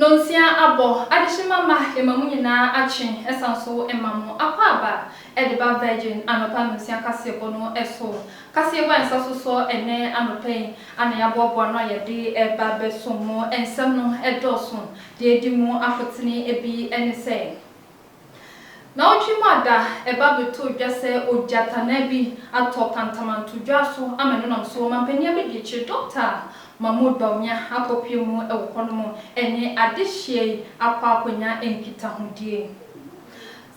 Nonsia abɔ, adehye mama yɛma mo nyinaa atwe ɛsan nso ɛma mo akwaaba ɛde ba Virgin anɔpa nonsia kaseɛbɔ no ɛso. Kaseɛbɔ a nsa so sɔ ɛnɛ anɔpa yi ana yɛaboaboa ano a yɛde ɛreba bɛsom mo. Ɛnsɛm no ɛdɔɔso. Deɛ ɛdi mu afotene bi ɛne sɛ. Naawɔtwe mu ada ɛba bɛtɔɔ dwa sɛ ogyatanaa bi atɔ Kantamanto dwa so ama no nam so. Ɔmanpanin abɛdi akyire Dɔkta Mahmood Bawumia akɔpue mu wɔ hɔ nom ɛne adehyeɛ yi akɔ akɔnya nkitahodie.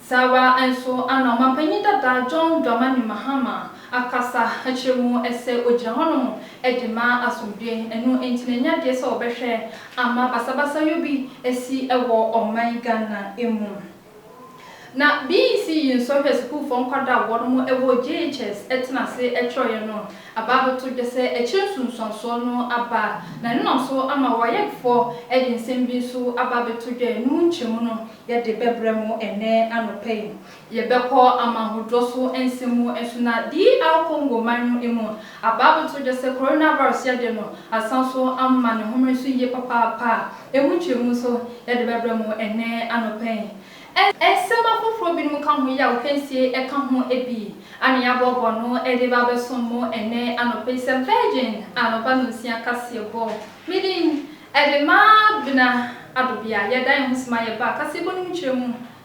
Saa ara nso ana ɔmanpanin dada John Dramani Mahama akasa kyerɛ mu sɛ ogyina hɔnom de ma asomdwoe. Ɛno nti na ɛnyɛ adeɛ sɛ wɔbɛhwɛ ama basabasayɔ bi asi wɔ ɔman Ghana mu. Na BEC yi nsɔhwɛ sukuufoɔ nkwadaa a wɔnom wɔ JHS tena ase twerɛeɛ no aba abɛto dwa sɛ akyire nsunsuansoɔ no aba. Na ɛno na nso ama WAEC foɔ de nsɛm bi nso aba abɛto dwa a ɛno mu nkyerɛmu no yɛde bɛbrɛ mo ɛnnɛ anɔpa yi. Yɛbɛkɔ amahodɔ so nsɛm mu nso na DR Congo man no emu abaabotow gye sɛ coronavirus yɛde no asan so ama ne homene so yiye papaapa a emu nkyerɛmu nso yɛde bɛbrɛ mo ɛnnɛ anɔpa yi. Nsɛm afoforo binom ka ho yi a otwa nsie ka ho bi a na yɛaboaboa ano de reba abɛsom mo ɛnnɛ anɔpa yi sɛ Virgin anɔpa nnɔnsia kaseɛbɔ. Me din de Mabena Adobea. Yɛdan yɛn ho sima yɛba kaseɛbɔ no mu nkyerɛmu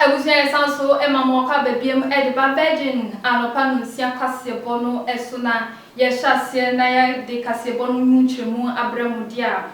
Abusua yɛ san so ma mo ɔkɔ aba biam de ba Virgin anɔpa nonsia kaseɛbɔ no so na yɛ hyɛ aseɛ na yɛ de kaseɛbɔ no mu nkyerɛmu abrɛ mo deɛ a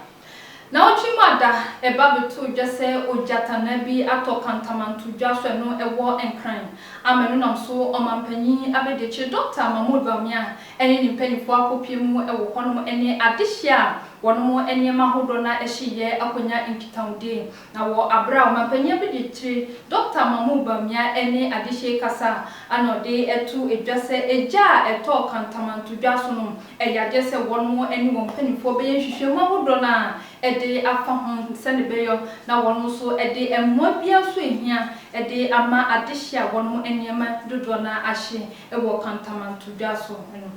Naawɔtwe mu ada, ɛba bɛtoo dwa sɛ ogyatanaa bi atɔ kantamanto dwa so, ɛno ɛwɔ Nkran. Ama ɛno nam so Ɔmanpanyin Abɛdiakyire Dɔkta Mahmood Bawumia ne ne mpanyimfoɔ akɔpue mu wɔ hɔnom ne adehye a wɔnom nneɛma ahodoɔ no ara hyeeɛ akɔnya nkitahodie. Na wɔ aber a ɔmampanyin bi de tire Dɔkta Mahmoud Bawumia ne Adehye kasa a ana ɔde to dwa sɛ egya a ɛtɔɔ kantamantodwa so no yɛ adeɛ sɛ wɔn ne wɔn mpanimfoɔ bɛyɛ nhwehwɛmu ahodoɔ no ara de afa ho sɛdeɛ ɛbɛyɔ na wɔn nso de mmoa biara nso a ɛhia de ama adehye a wɔn nneɛma dodoɔ no ara ahye wɔ kantamantodwa so no.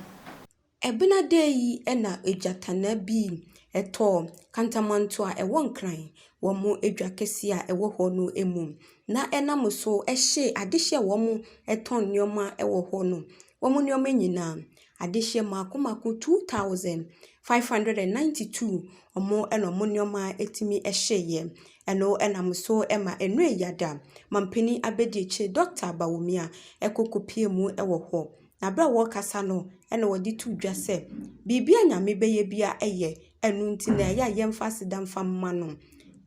Ebɛnadɛ yi na egyatanaa bi tɔɔ kantamanto a ɛwɔ Nkran wɔ mo edwa kɛse a ɛwɔ hɔ no mu, na ɛnam so hyee adehye a wɔtɔn nneɛma wɔ hɔ no, wɔn nneɛma nyina, adehyeɛ mmaako mmaako, 2,592, wɔn na wɔn nneɛma tumi hyeeɛ. Ɛno nam so ma Enoy Yada, Mampanin Abɛdiakyire Dɔkota Bawumia kɔ kɔpuee mu wɔ hɔ. Na berɛ a wɔrekasa no, ɛnna wɔde too dwa sɛ, Biribiara a Nyame bɛyɛ biara yɛ, ɛno nti na ɛyɛ a yɛmfa aseda mfa mma no.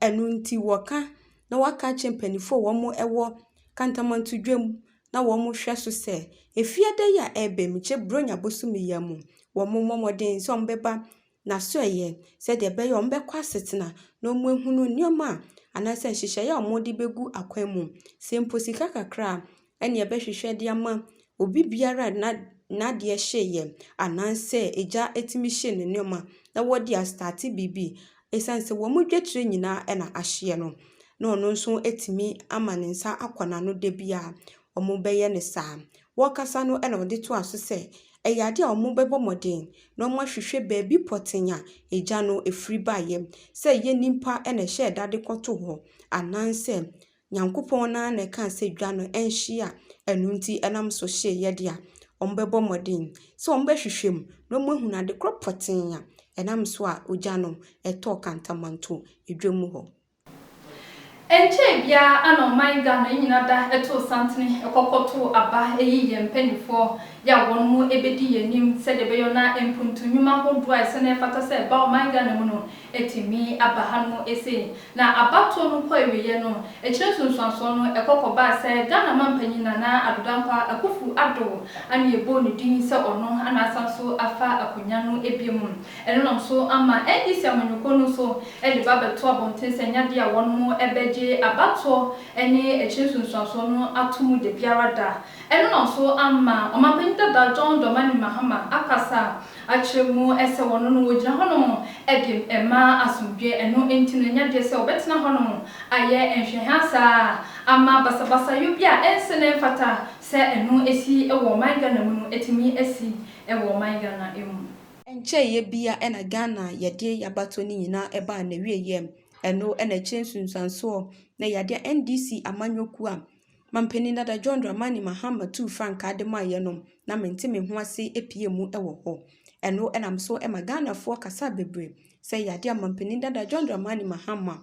Ɛno nti wɔka na wɔaka akyerɛ mpanimfoɔ a wɔwɔ Kantamanto-Dwam na wɔhwɛ so sɛ, Efie ada yi a ɛreba yi mu, kyerɛ Buronya bosome yi ara mu, wɔmmɔ mmɔden sɛ wɔbɛba n'asoɛeɛ sɛdeɛ ɛbɛyɛ a wɔbɛkɔ asetena na wɔahunu nneɛma a anaasɛ nhyehyɛeɛ a wɔde bɛgu akwan mu. Sɛ mpo sika kakra a, ɛnna yɛbɛhwehwɛ de ama obi biara a n'a n'adeɛ hyeeɛ anaasɛ egya tumi hyee ne nneɛma na wɔde astate biribi. Ɛsiane sɛ wɔn dwatire nyinaa na ahyeɛ no, na ɔno nso atumi ama ne nsa akɔ n'ano da biara. wɔbɛyɛ no saa. Wɔrekasa no na ɔde toaa so sɛ, Ɛyɛ ade a wɔbɛbɔ mmɔden na wɔahwehwɛ baabi pɔtee a egya no firi baeɛ, sɛ ɛyɛ nnipa na ɛhyɛɛ da de kɔtoo hɔ anaasɛ Nyankopɔn no ara na ɛkaa sɛ dwa no nhye a ɛno nti ɛnam so hyeeɛ de a, wɔbɛbɔ mmɔden sɛ wɔbɛhwehwɛ mu na wɔahunu ade korɔ pɔtee a ɛnam so a ogya no tɔɔ Kantamanto dwam hɔ. Ɛnkyɛɛ biara na ɔman Ghana nyina da too santene kɔkɔtoo aba yi yɛn mpaninfoɔ yɛ a wɔn mo bɛdi yɛn anim sɛdeɛ ɛbɛyɔ na mpuntu nwuma hodoɔ a ɛsɛ na ɛfata sɛ ɛba ɔman Ghana mu no atumi aba ha nom sei. Na abatoɔ no kɔ awieɛ no akyire nsunsuansoɔ no ɛkɔ kɔbaa sɛ Ghana manpanyin Nana Addo Dankwa Akufu Addo ana yɛbɔɔ ne din sɛ ɔno ana asan so afa akonya no biom. Ɛno nam so ama NDC amanyɔkuo no nso de ba bɛto abɔnten sɛ nyadeɛ a wɔbɛgye abatoɔ ne akyire nsunsuansoɔ no ato mu da biara da. Ɛno na nso ama Ɔmanpanin dada John Dormani Mahama akasa akyerɛ mu sɛ wɔn no wɔgyina hɔnom de ma asomdwoeɛ. Ɛno nti no nyadeɛ sɛ wɔbɛtena hɔnom ayɛ nhwɛhaa saa ama basabasayɔ bi a ɛnsɛ na ɛmfata sɛ ɛno si wɔ ɔman Ghana mu no atumi asi wɔ ɔman Ghana mu. Ɛnkyɛeɛ biara na Ghana yadeɛ yabato no nyinaa baa n'awieɛ mu. Ɛno na ɛkyerɛ nsunsuansoɔ na yadeɛ a NDC amanyɔkuo a Mampanin Dada John Dramani Mahama tuu frankaa de maeɛ no, na mente me ho ase pue mu wɔ hɔ. Ɛno nam so ma Ghanafoɔ kasa bebree sɛ yadeɛ a Mampanin Dada John Dramani Mahama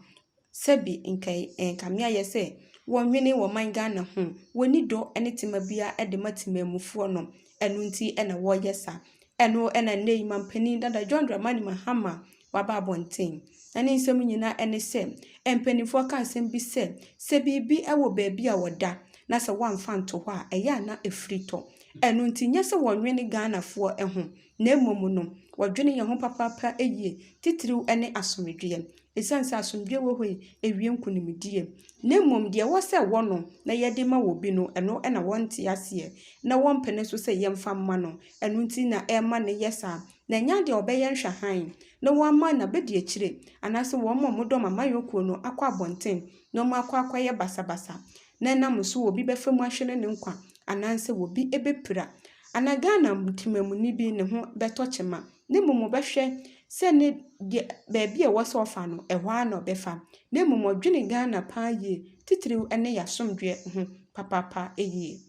Sɛbi nka yi ɛɛ nka me ayɛ sɛ wɔ nwene wɔ man Ghana ho wɔ ni dɔ ne tema bia ɛde ma temanmufoɔ no ɛno nti ɛna wɔ yɛ sa ɛno ɛna nnɛ yi manpanin dada John Dramani Mahama wɔ aba abɔnten na ne nsɛm nyina ɛne sɛ mpaninfoɔ ka asɛm bi sɛ sɛ biribi ɛwɔ baabi a wɔ da na sɛ wɔ amfa nto hɔ a ɛyɛ a na ɛfiri tɔ ɛno nti nyɛ sɛ wɔ nwene Ghanafoɔ ɛho na mmom no, wɔdwene yɛn ho papaapa yie, titiriw ne asomdwoeɛ. Ɛsiane sɛ asomdwoeɛ wɔ hɔ yi, ɛwie nkonimdie. Na mmom deɛ ɛwɔ sɛ ɛwɔ no na yɛde ma obi no, ɛno na wɔnte aseɛ, na wɔmpene nso sɛ yɛmfa mma no. Ɛno nti na ɛma no yɛ saa. Na ɛnyɛ adeɛ a wɔbɛyɛ nhwɛhan na wɔama no abɛdi akyire, anaasɛ wɔn a wɔdɔ ɔman yɔnkuo no akɔ abɔnten na wɔakɔ akɔyɛ basabasa. na ɛnam so obi bɛfa mu ahwere ne nkwa anaasɛ obi bɛpira. Ana Ghana temamuni bi ne ho bɛtɔ kyema, na mmom ɔbɛhwɛ sɛ ne deɛ baabi a ɛwɔ sɛ ɔfa no, ɛhɔ ara na ɔbɛfa, na mmom ɔdwene Ghana paa yie, titiriw ne yɛn asomdwoeɛ ho papaapa yie.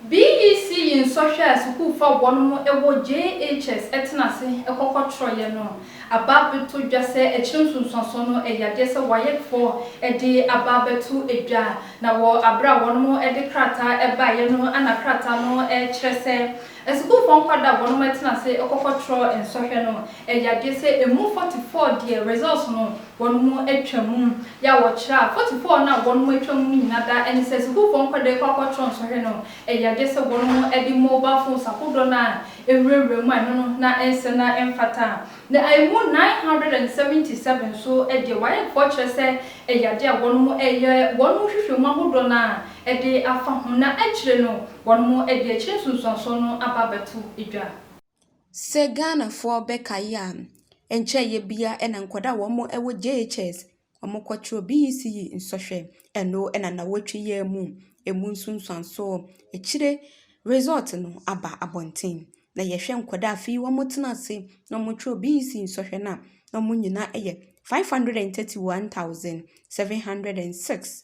BEC yi nsɔhwɛ a sukuufo a wɔnom wɔ JHS tena ase kɔ kɔtɔrɔeɛ no aba abɛtɔ dwa sɛ akyire nsunsuansoɔ no yɛ adeɛ sɛ WAECfoɔ de aba abɛto dwa na wɔ aberɛ a wɔnom de krataa baeɛ no na krataa no kyerɛ sɛ Asukuufo nkwadaa a wɔnom ɛtena ase ɛkɔfɔ trɔ nsɔhwɛ no ɛyadeɛ sɛ ɛmu 44 deɛ results no wɔnom atwa mu yɛ a wɔkyerɛ a 44 no a wɔnom atwa mu no nyina da ɛne sɛ asukuufo nkwadaa ɛkɔ akɔ trɔ nsɔhwɛ no ɛyadeɛ sɛ wɔnom ɛde mobile phones ahodoɔ no a ɛwura wura mu a ɛno no na ɛnsɛ na ɛmfata na ɛmu 977 nso deɛ waec foɔ kyerɛ sɛ ɛyadeɛ a wɔnom ɛyɛ wɔnom nhwehwɛ mu ahodoɔ no a ɛde afa ho na akyire no Wɔn mo adi akyire nsunsuansoɔ no aba abɛto dwa. Sɛ Ghanafoɔ bɛkae a, ɛnkyɛɛ yɛ biara na nkwadaa a wɔn wɔ JHS, wɔn kɔ twerɛ BECE nsɔhwɛ, ɛno na nnawɔtwe yi ara mu, ɛmu nsunsuansoɔ, akyire result no aba abɔnten. Na yɛ hwɛ nkwadaa a fii wɔn tena ase na wɔn twerɛ BECE nsɔhwɛ no a, na wɔn nyinaa yɛ 531,706.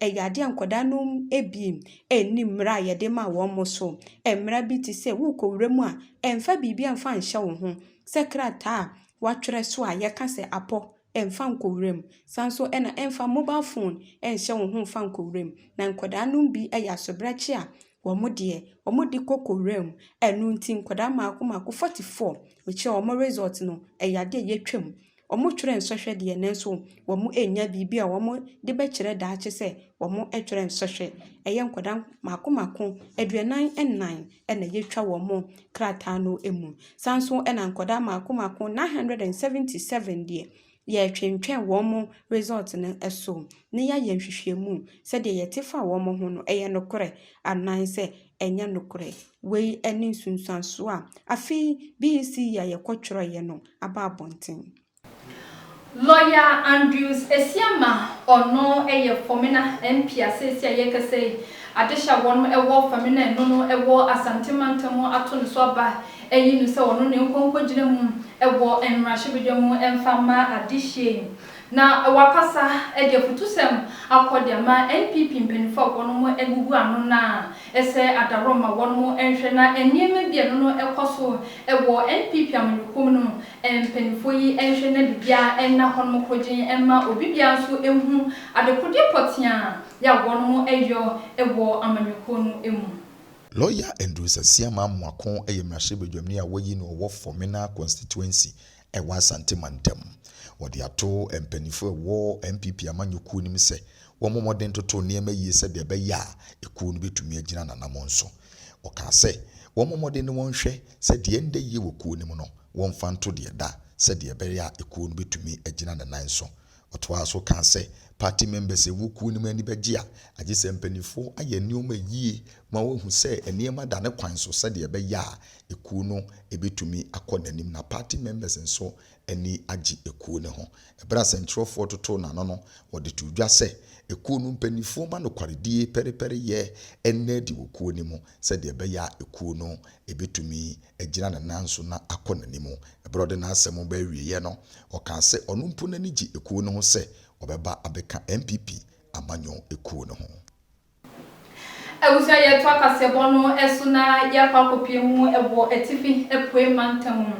Ɛyɛ adeɛ a nkwadaa no bi nni mmara a yɛde ma wɔn so. Mmara bi te sɛ worekɔ wura mu a, mfa biribiara mfa nhyɛ wo ho. Sɛ krataa a wɔatwerɛ so a yɛka sɛ apɔ, mfa nkɔ wura mu. Sane nso na mfa mobal fon nhyɛ wo ho mfa nkɔ wura mu. Na nkwadaa no bi yɛ asobrakye a, wɔn deɛ, wɔde kɔ kɔ wura mu. Ɛno nti nkwadaa mmaako mmaako, forty four, mekyerɛ wɔn result no, ɛyɛ adeɛ a yɛtwam. Wɔtwerɛ nsɔhwɛ deɛ nanso wɔannya biribi a wɔde bɛkyerɛ daakye sɛ wɔtwerɛ nsɔhwɛ. Ɛyɛ nkwadaa mmaako mmaako aduanan nnan na yɛtwa wɔn krataa no mu. Saa ara nso na nkwadaa mmaako mmaako nine hundred and seventy seven deɛ, yɛtwentwɛn wɔn result no so na yɛayɛ nhwehwɛmu sɛdeɛ yɛte fa wɔn ho no, ɛyɛ nokorɛ anaasɛ ɛnyɛ nokorɛ. Wei ne nsunsuansoɔ a afei BEC yi a yɛkɔtwerɛeɛ no aba abɔnten. Lɔya Andrews Asiamah, ɔno yɛ Fɔmena MP a seesei a yɛrekasa yi, adehye a wɔnom wɔ Fɔmena ɛno no wɔ Asante mantam mu ato no so aba ayi no sɛ ɔno ne nkɔ nkɔgyina mu wɔ mmarahyɛbadwa mu mfa mma adehyeɛ yi. Na wakasa de afutusɛm akɔ de ama NPP mpaninfoɔ a wɔnom agugu ano no a Ɛsɛ adaworo ma wɔn mo nhwɛ na nneɛma bi a ɛno no ɛkɔ so wɔ NPP amanyɔkuo mu no mpaninfoɔ yi nhwɛ na biribiara nna hɔ nom korogyen mma obi biara nso nhu adekodeɛ pɔteaa yɛ a wɔn mo ɛyɔ wɔ amanyɔkuo no mu. Lɔya Andrew Sasia Mamoako yɛ mmarahyɛbadwamni a wɔayi no ɔwɔ Fɔmena Constituency ɛwɔ Asante mantam. Wɔde ato mpanyinfo a ɛwɔ NPP amanyɔkuo no mu sɛ wɔmmɔ mmɔden ntoto nneɛma yie sɛdeɛ ɛbɛyɛ a ekuo no bɛtumi agyina n'anammɔn so. Ɔkaa sɛ wɔmmɔ mmɔden na wɔnhwɛ sɛ deɛ ɛnda yie wɔ kuo no mu no wɔmfa nto deɛ ɛda sɛdeɛ ɛbɛyɛ a ekuo no bɛtumi agyina ne nan so Ɔtoaa so kaa sɛ, Party members ɛwɔ kuo no mu ani bɛgye a, agye sɛ mpaninfoɔ ayɛ nneɛma yie ma wɔahu sɛ nneɛma da ne kwan so sɛdeɛ ɛbɛyɛ a ekuo no ɛbɛtumi akɔ n'anim na party members nso ani agye ekuo no ho. Ɛberɛ a sɛntwerɛfoɔ totoo n'ano no, wɔde too dwa sɛ, Ekuo no mpaninfoɔ ma nokwaredie pɛrepɛreyɛ nna adi wɔ kuo no mu sɛdeɛ ɛbɛyɛ a ekuo no ɛbɛtumi agyina ne nan so na akɔ n'anim. Bere a ɔde n'asɛm ba awieeɛ no, ɔkaa sɛ ɔno mpo n'ani gye ekuo no ho sɛ ɔbɛba abɛka NPP amanyɔ kuo no ho. Abusua yɛ toa kaseɛbɔ no so na yɛakɔ akɔpie mu wɔ atifi apuei mantam mu.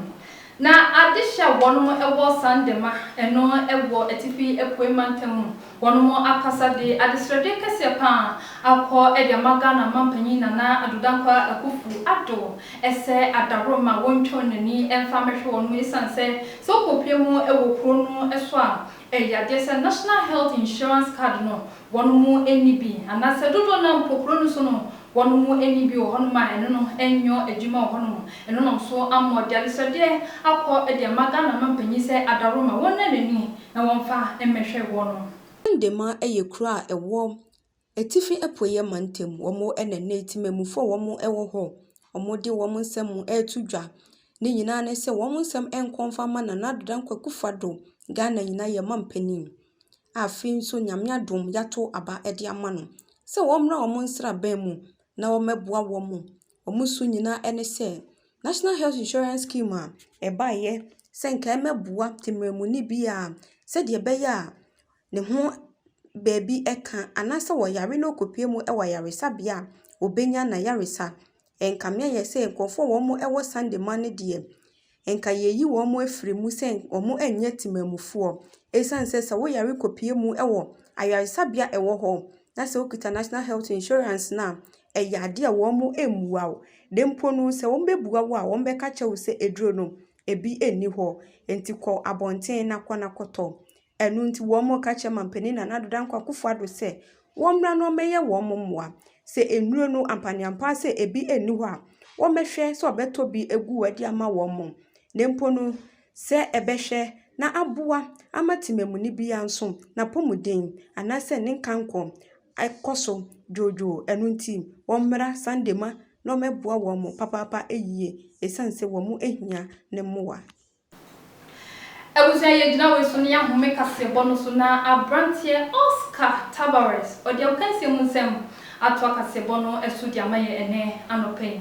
Na adehye a wɔnom wɔ Sandema no wɔ atifi apuei mantam mu. Wɔn mo akasa de adesrɛdeɛ kɛseɛ paa akɔ de ama Ghana Manpanyin Nana Addo Dankwa Akuffo Addo sɛ adaworoma wɔntwa wɔn ani mfa mmɛhwɛ wɔn mo esiane sɛ sɛ wokɔ pue mu wɔ kuro no so a ɛyadeɛ sɛ National Health Insurance Card no wɔn mo nni bi anaasɛ dodoɔ no ara mpo kuro no so no wɔn mo nni bi wɔ hɔ nom a ɛno no nyɔ adwuma wɔ hɔ nom ɛno nom so ammɔ de adesrɛdeɛ akɔ de ama Ghana Manpanyin sɛ adaworoma wɔnna n'ani Na wɔmfa mmɛhwɛ wɔnom. Ndema yɛ kuro a ɛwɔ Atifi Apueɛ Mantam. Wɔn na nnɛ Temamufoɔ a wɔwɔ hɔ a wɔde wɔn nsɛm reto dwa. Ne nyinaa ne sɛ wɔn nsɛm nkɔ mfa mma Nana Addo Dankwa Akufo Addo, Ghana nyinaa yɛn mampanin a afei nso Nyame adom yɛato aba de ama no sɛ wɔmmra wɔn nsraban mu na wɔmmɛboa wɔn wɔn su nyinaa ne sɛ, National Health Insurance Scheme a ɛbaeɛ sɛ nka ɛmmɛboa temanmuni biara sɛdeɛ ɛbɛyɛ a ne ho baabi ka anaasɛ ɔyare na ɔrekɔpue mu wɔ ayaresabea a, ɔbɛnya n'ayaresa. Ɛnkameeɛ ayɛ sɛ nkurɔfoɔ a wɔwɔ Sunday mma no deɛ, nka yɛayi wɔn afiri mu sɛ wɔnyɛ temanmufoɔ ɛsiane sɛ sɛ woyare kɔpue mu wɔ ayaresabea ɛwɔ hɔ na sɛ wokita National Health Insurance no a, ɛyɛ adeɛ a wɔn mmua wo. Na mpo no sɛ wɔbɛbua wo a, wɔbɛka akyerɛ wo sɛ aduro no ɛbi nni hɔ nti kɔ abɔnten na kɔ na kɔtɔ. Ɛno nti wɔreka kyerɛ Mampanin Nana Dadaa Nkoa Akufo-Addo sɛ wɔmmra na wɔmmɛyɛ wɔn mmoa. Sɛ nnuro no, ampaneampaa sɛ ebi nni hɔ a, wɔmmɛhwɛ sɛ wɔbɛtɔ bi agu hɔ de ama wɔn. Na mpo no, sɛ ɛbɛhwɛ na aboa ama temamuni biara nso, n'apɔmuden anaasɛ ne nkankɔ kɔ so dwoodwoo. Ɛno nti wɔmmra Sandema na wɔmmɛboa wɔn papaapa yie, esiane sɛ wɔhia ne mmoa. Abusua yi agyina wei so ne yɛahome kaseɛbɔ no so na aberanteɛ Oscar Tabarez ɔde akansie mu nsɛm atoa kaseɛbɔ no so de ama yɛn ɛnnɛ anɔpa yi.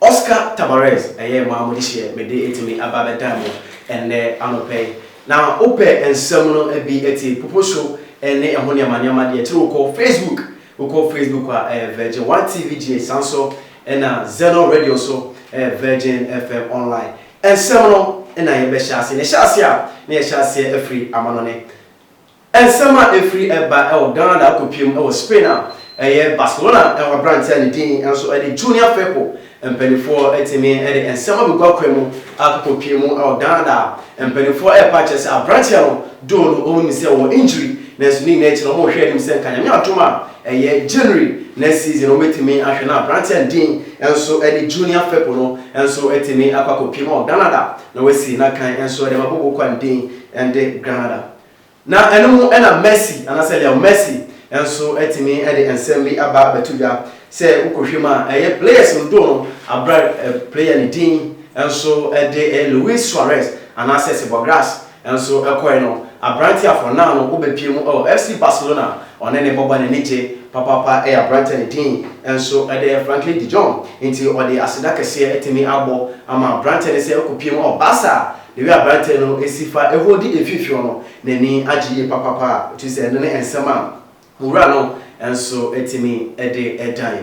Oscar Tabarez ɛyɛ maa mo dehyeɛ mede atumi aba abɛdan mo ɛnnɛ anɔpa yi. Na wo pɛ nsɛm no bi atie, popo show ɛne ɛho nneɛma nneɛma deɛ akyire wo kɔ Facebook, wo kɔ Facebook a ɛyɛ Virgin One TV GH saa nso ɛna Zeno Radio nso ɛyɛ Virgin FM Online ɛnsɛm no ɛna yɛbɛhyɛ aseɛ. Na ɛhyɛ aseɛ a na yɛhyɛ aseɛ afiri amanɔne. Nsɛm a ɛfiri ba wɔ Ghana akɔpie mu wɔ Spain a ɛyɛ Barcelona hɔ aberanteɛ a ne din nso de Junior Firpo mpaninfoɔ tumi de nsɛm abɛgu akwan mu akɔpie mu wɔ Ghana a mpaninfoɔ repɛ akyerɛ sɛ aberanteɛ no doo no wɔn nim sɛ ɔwɔ injury nanso ne nyinaa akyi no wɔn rehwɛ anim sɛ nka Nyame adom a ɛyɛ January next season wɔn bɛtumi ahwɛ na aberanteɛ a ne din nso de Junior Firpo no nso atumi akɔ akɔpie mu wɔ Granada na wasi n'akan nso de ma Bobo Kwan din de Granada. Na ɛno mu na Mercy anaasɛ Leo Mercy nso atumi de nsɛm bi aba abɛto dwa. Sɛ wokɔhwɛ mu a, ɛyɛ players dodoɔ no abrɛ player no din nso de Luis Suarez anaasɛ Seba Grass nso kɔe no. Aberanteɛ a for now no wobɛpue mu wɔ FC Barcelona a ɔne ne bɔbɔ no ani gye papaapa yɛ aberanteɛ a ne din nso de Franklin de Jong. Nti wɔde aseda kɛseɛ atumi abɔ ama aberanteɛ no sɛ ɔkɔpue mu wɔ Barca a Ewie a aberanteɛ no si fa hɔ di mfimfini no, n'ani agye yie papaapa a ɔtumi sɛ ɛno ne nsɛm a mo wura no nso tumi de dan.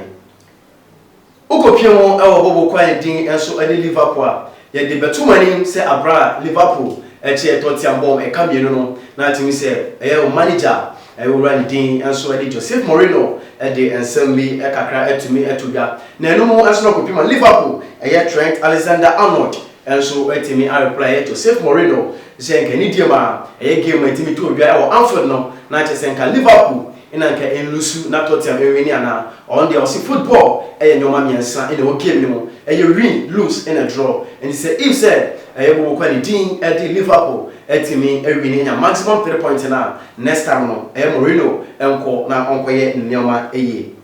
Wokɔpia mu wɔ hɔ wɔ kwan din nso ne Liverpool a, yɛde bɛto mo anim sɛ aberɛ a Liverpool kyɛ yɛ Tottiam bɔ wɔn ɛka mmienu no, na atumi sɛ ɛyɛ wɔn manigya a wo wura ne din nso ne Joseph Mourinho de nsɛm bi kakra atumi ato dwa. Na ɛno mu nso na kɔpie ma Liverpool yɛ Trent Alexander Arnold nso atumi a reply yɛ to Safe Mourinho sɛ nka ne deɛm a ɛyɛ game a ɛtumi to odwa wɔ Anfield no na kyerɛ sɛ nka Liverpool na nka ɛnlusu na Tottenham ɛnwini anaa ɔno deɛ ɔse football ɛyɛ nnoɔma mmiɛnsa na ɛwɔ game no mu ɛyɛ win, lose ɛna draw nti sɛ if sɛ yɛbobɔ kwa ne din de Liverpool atumi awini anya maximum three points no a next time no ɛyɛ Mourinho nkɔ na ɔnkɔyɛ ne nnoɔma yie.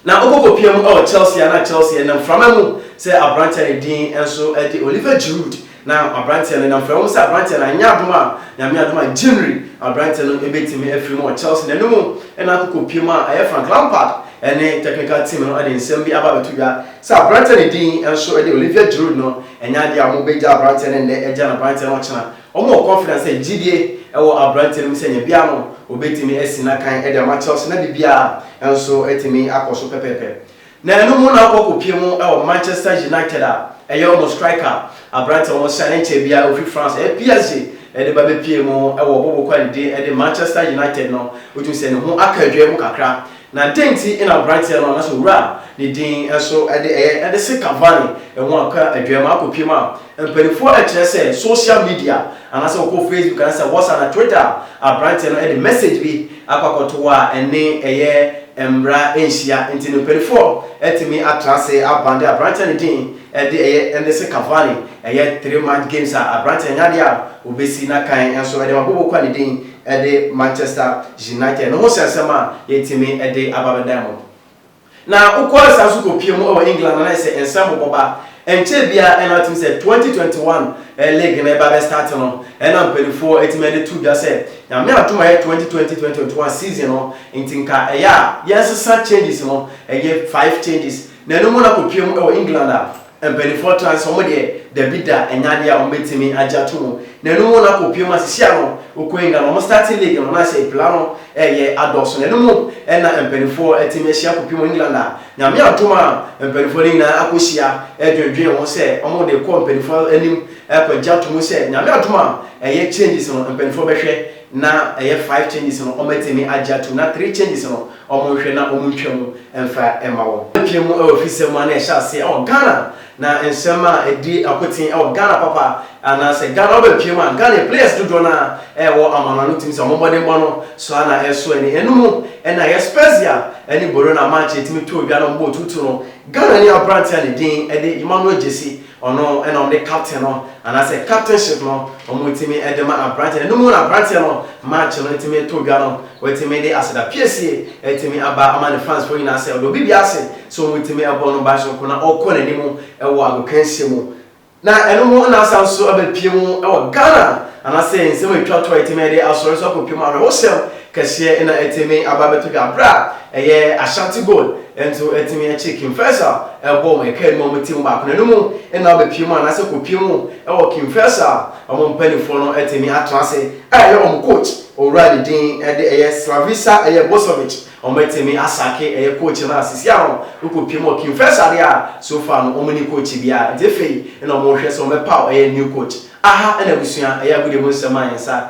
Na ɔkɔkɔpia mu wɔ Chelsea a na Chelsea nam mframa mu sɛ aberanteɛ a ne din nso de Oliver Giroud. Na aberanteɛ no nam mframa mu sɛ aberanteɛ no anyɛ adom a Nyame adom a January aberanteɛ no bɛtumi afiri mu wɔ Chelsea na ɛno mu na akɔkɔpia mu a ɛyɛ Frank Lampard ne technical team no de nsɛm bi aba abɛto dwa sɛ aberanteɛ a ne din nso de Olivier Giroud no ɛnyɛ adeɛ a wɔbɛgya aberanteɛ no nnɛ agya no aberanteɛ no ɔkyena Wɔwɔ confidence sɛ gyidie wɔ abranteɛ no mu sɛ nyɛbea no ɔbɛtumi asi n'akan de ama Chelsea na biribiara nso atumi akɔ so pɛpɛɛpɛ. Na ɛno mu na ɔkɔ kɔpie mu wɔ Manchester United a ɛyɛ wɔn striker abranteɛ a wɔn sign nkyɛɛ biara ɔfiri France ɛyɛ PSG de ba bɛpie mu wɔ bɔbɔkɔ a ɛdidi de Manchester United no wotumi sɛ ne ho aka adwaɛ mu kakra Na dɛn nti na aberanteɛ no anaasɛ owura a ne din nso de ɛyɛ de se Cavani ho akɔ adwaam akɔpiem a mpanimfoɔ rekyerɛ sɛ social media anaasɛ wokɔ Facebook anaasɛ WhatsApp anaa Twitter a aberanteɛ no de message bi akɔ akɔto wo a ɛne ɛyɛ mmara nhyia nti no mpanimfoɔ atumi atra ase abande aberanteɛ ne din de ɛyɛ de se Cavani ɛyɛ three match games a aberanteɛ no anya adeɛ a wɔbɛsi n'akan nso de ma Bobokwa ne din de Manchester United no ho sɛnsɛm a yɛatumi de aba bɛdan mo. Na wokɔ san so kɔ pue mu wɔ England a na ayɛ sɛ nsɛm bobɔ ba. Ɛnkyɛɛ biara ɛna wotumi sɛ 2021 league no ɛba bɛ start no ɛna mpaninfoɔ atumi de to dwa sɛ Nyame adom a ɛyɛ 2020-2021 season no nti nka ɛyɛ a yɛnsesa changes no ɛyɛ 5 changes na ɛno mu na kɔ pue mu wɔ England a Mpaninfoɔ taa se wɔn deɛ dabi da ɛnyɛ adeɛ a wɔn bɛtumi agye ato mu. Na ɛno mu no akɔ pue mu a sisi ano wokɔ England wɔn starting league no na sɛ epila no ɛyɛ adɔɔso. Na ɛno mu ɛna mpaninfoɔ atumi ahyia akɔ pue mu England a Nyame adom a mpaninfoɔ no nyinaa akɔ hyia ɛdwendwen ho sɛ wɔn de kɔ mpaninfoɔ anim ɛkɔ gye ato mu sɛ Nyame adom a ɛyɛ changes no mpaninfoɔ bɛhwɛ na ɛyɛ five changes no wɔatumi agye atom na three changes no wɔnhwɛ na wɔntwa mu mfa mma wɔn. Apue mu wɔ afisɛm mu a na ɛhyɛ aseɛ wɔ Ghana na nsɛm a ɛdi akoten wɔ Ghana papa anaasɛ Ghana ɔba apue mu a Ghana yɛ players dodoɔ no ara ɛwɔ amano ano tumi sɛ wɔn mmɔdenbɔ no so ara na ɛso ani. Ɛno mu na ɛyɛ Spezia ne Bologna match a ɛtumi too dwa na wɔbɔɔ tuutu no Ghanani aberanteɛ a ne din de Emmanuel Gyasi Ɔno na wɔde captain no anaasɛ captainship no wɔtumi de ma aberanteɛ no. Ɛno mu na aberanteɛ no match no tumi to dwa no watumi de aseda piesie atumi aba ama ne fansfoɔ nyinaa sɛ ɔde obi biara ase sɛ wɔtumi bɔ no ban soronko na ɔkɔ n'anim wɔ agokansie mu. Na ɛno mu na asan nso abɛpue mu wɔ Ghana anaasɛ nsɛm a ɛtwa to a ɛtumi de asɔre nso akɔpue mu awerɛhosɛm kɛseɛ na ɛtumi aba abɛtɔ dwa berɛ a ɛyɛ Ashanti Gold nso atumi akye King Faisal ɛbɔ wɔn ɛka anim a wɔte mu baako na ɛno mu na wɔbɛpie mu anaasɛ kɔpie mu ɛwɔ King Faisal wɔn mpaninfoɔ no atumi atena ase a ɛyɛ wɔn coach owura ne din ɛde ɛyɛ Slavisa ɛyɛ Bosovic wɔn atumi asake ɛyɛ coach no a sisi a wɔn wokɔpie mu wɔ King Faisal deɛ a so far no wɔn ni coach biara nti afei na wɔn rehwɛ sɛ wɔn bɛpaw ɛyɛ new coach aha ɛna abusua ɛyɛ agodie mu nsɛm a yɛn nsa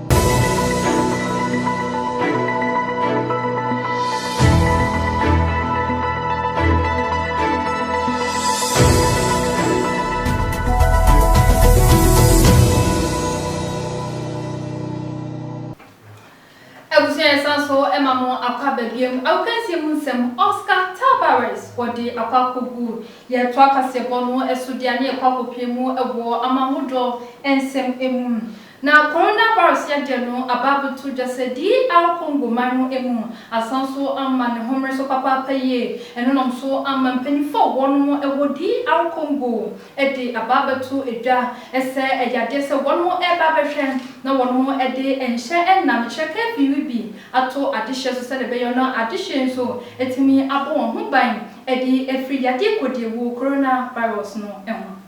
Abusua yɛsan so ma mo akɔ aba biom. Agokansie mu nsɛm, Oscar Tabarez wɔde akɔ akɔgu yɛtoa kaseɛbɔ no so deɛ a ne yɛkɔ akɔpue mu wɔ amanhodoɔ nsɛm mu. Na coronavirus yɛdɛ no aba abɛto gya sɛ DR Congo man no mu asan so ama ne homere so papaapa yie. Ɛno nam so ama mpanyinfo a wɔnom wɔ DR Congo de aba abɛto dwa sɛ ɛyɛ adeɛ sɛ wɔnom ɛreba abɛhwɛ na wɔnom de nhyɛ nam kyerɛ curfew yi bi ato adehyeɛ so sɛdeɛ ɛbɛyɔ na adehyeɛ yi nso atumi abɔ wɔn ho ban de afiri yadeɛ kodiawuo coronavirus no ho.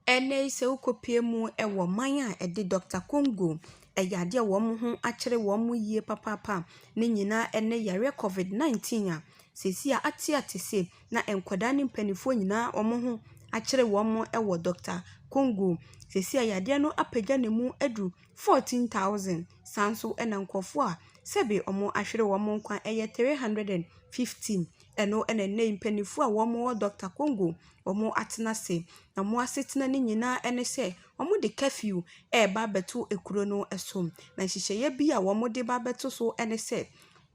Ɛnnɛ yi sɛ wokɔpue mu wɔ man a ɛde Dɔkta Kongo yadeɛ a wɔn ho akyere wɔn yie papaapa a ne nyinaa ne yareɛ Covid 19 a, seesei ateate se na nkwadaa ne mpanimfoɔ nyinaa wɔn ho akyere wɔn wɔ Dɔkta Kongo. Seesei yadeɛ no apagya ne mu adu 14,000. Saa ara nso na nkurɔfoɔ a sɛbe wɔahwere wɔn nkwa yɛ 315. ɛno na nnɛ yi mpaninfoɔ a wɔn wɔ Dɔketa Kongo wɔn atena ase. Na wɔn asetena no nyinaa ɛne sɛ wɔn de curfew ɛreba abɛto ekuro no ɛso. Na nhyehyɛeɛ bi a wɔn de ba abɛto so ɛne sɛ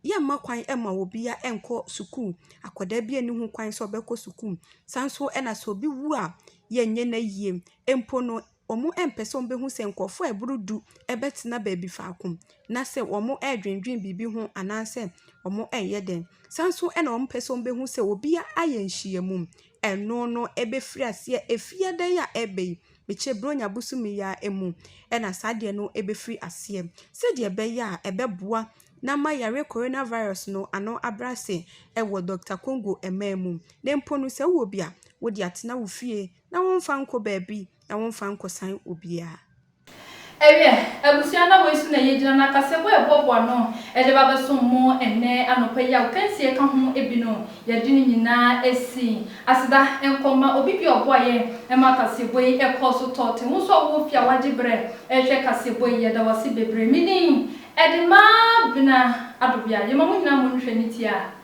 yɛn mma kwan mma obia nkɔ sukuu. Akwadaa bia nni ho kwan sɛ ɔbɛkɔ sukuu. San nso ɛna sɛ obi wu a yɛn nyɛ no ayie mpo no. wɔmpɛ sɛ wɔbɛhu sɛ nkurɔfoɔ a ɛboro du bɛtena baabi faako na sɛ wɔredwendwene biribi ho anaasɛ wɔreyɛ dɛn. Saa ara nso na wɔmpɛ sɛ wɔbɛhu sɛ obiara ayɛ nhyiamu. Ɛno no bɛfiri aseɛ efie adan a ɛreba yi, mekyerɛ Buronya bosome yi ara mu na saa adeɛ no bɛfiri aseɛ sɛdeɛ ɛbɛyɛ a ɛbɛboa na ama yareɛ corona virus no ano abrɛ ase wɔ Dɔkta Kongo man mu. Na mpo no sɛ wowɔ bi a, wode atena wo fie na wɔmfa nkɔ baabi na wɔmfa nkɔsan obiara. Ɛwiɛ, abusua na wei so na yɛgyina na akasɛm a ɛboaboa ano de ba bɛsom mo ɛnnɛ anɔpa yi a Okansie ka ho bi no, yɛde ne nyinaa asi. Aseda nkɔ ma obi biara a ɔboa yɛn ma kaseɛbɔ yi kɔɔ so tɔɔ ten. Wo nso a wowɔ fie a wagye berɛ rehwɛ kaseɛbɔ yi, yɛda wo ase bebree. Me din de Maa Bena Adobea. Yɛma mo nyinaa mo nhwɛ ne tiaa.